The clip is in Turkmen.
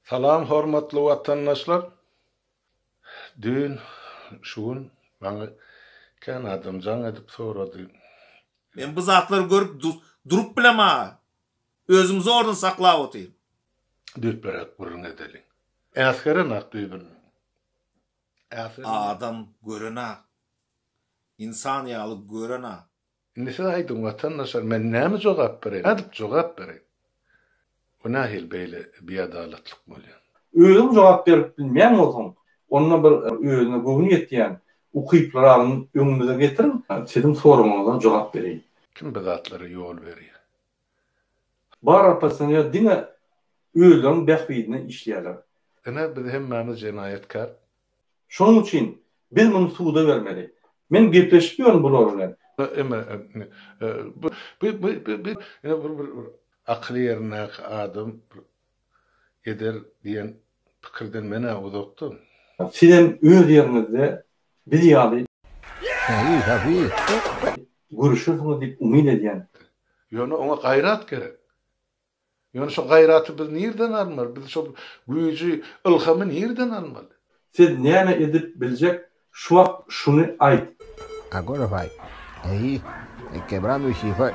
Salam hormatly watandaşlar! Düýn şu gün maňa kän adam jaň edip sorady. Men bu zatlary görüp durup bilema. Özüm zordan saklap otyryn. Düýpleräk gürrüň edeliň. Äsgerenok düýbünden. Adam görenok. Ynsan ýaly görenok. Indi siz aýdyň watandaşlar men näme jogap bereýin, nädip jogap bereýin? Bu nähili beýle biadalatlyk bolýar? Özüň jogap berip bilmeýän bolsaň, onda bir özüne göwni ýetýän ukyply ragyny öňümize getiriň, siziň soragňyza jogap bereýin. Kim bu zatlara ýol berýär? Bar oppozisioner diňe özleriniň bähbidine işleýärler. Ine biz hemmämiz jenaýatkär. Şonuň üçin biz muny suda bermeli. Men gepleşip ýörün bular bilen. Emma bu bir akyly ýerindäki adam eder diýen pikirden men-ä uzakda. Sizem öz ýeriňizde biz ýaly gürüşersiňiz diýip umyt edýän. Ýöne oňa gaýrat gerek. Ýöne şo gaýraty biz nirden almaly? Biz şo güýji, ylhamy nirden almaly? Sen näme edip biljek şu wagt şuny aýt. Agora vai. Ahi. He quebrando o chifre.